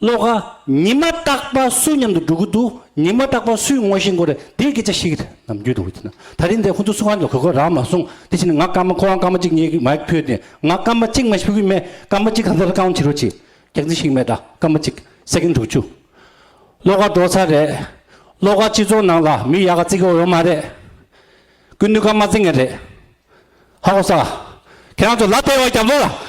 ཀློག་པ། ཉི་མ་རྟག་པ་སུ་མཉམ་དུ་འགྲོ་གི་འདུག་ཉི་མ་རྟག་པ་སུའི་ངོ་ཤེས་མགོ་རེད་དེ་སྐད་ཆ་ཞིག་ནམ་རྒྱུན་དུ་འོས་ཐུག་ན་ད་རིང་འདི་ཁོ་ཚོ་སུ་གང་གིས་གོ་གོ་རང་མ་གསུང་དེ་བཞིན་ང་སྐར་མ་ཁོ་རང་སྐར་མ་གཅིག་ཉེ་གི་མ་ཕུད་དེ་ང་སྐར་མ་གཅིག་མ་ཕུད་གི་མེད་སྐར་མ་གཅིག་གང་ལྟར་རྐང་བྱི་རུ་བྱེད་རྒྱག་རྩིས་ཤིག་མེད་དྲ་སྐར་མ་གཅིག་སེ་གེན་དྲུག་བཅུ། ཀློག་པ་འགྲོ་ཚར་རེད། ཀློག་པ་སྤྱི་ཚོགས་ནང་ལ་མི་ཡག་ག་བརྩི་གི་འོས་མ་རེད། ཀུན་ནུས་ཀརྨ་བརྩི་ངེས་རེད། ཧ་གོ་ས། ཁྱེད་རང་ཚོ་ལ་དེ་བ་རྒྱབ་ལོག་ལ།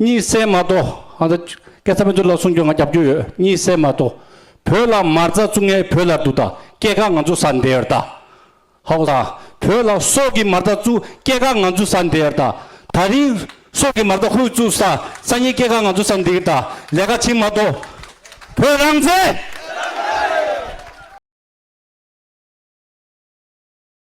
གཉིད་སད་མ་གཏོགས། སྐད་ཆ་མི་འདོད་ལ་གསུང་རྒྱུ་ང་རྒྱབ་རྒྱུ་ཡོད་གཉིད་སད་མ་གཏོགས། བོད་ལ་མར་རྩ་བཙུགས་ངས་བོད་ལ་འདུག་ད་སྐད་ག་ང་ཚོ་ཟ་འདེ་ཡོད་ད། ཧཱུྃ་དང། བོད་ལ་སྲོག་གི་མར་རྩ་བཙུགས་སྐད་ག་ང་ཚོ་ཟ་འདེ་ཡོད་ད། ད་རིང། སྲོག་གི་མར་རྩ་ཧུད་བཙུགས་ས་ས་ཉིད་སྐད་ག་ང་ཚོ་ཟ་འདེ་གི་ད་ལས་ཀ་བྱེད་མ་གཏོགས། བོད་རང་བཙན།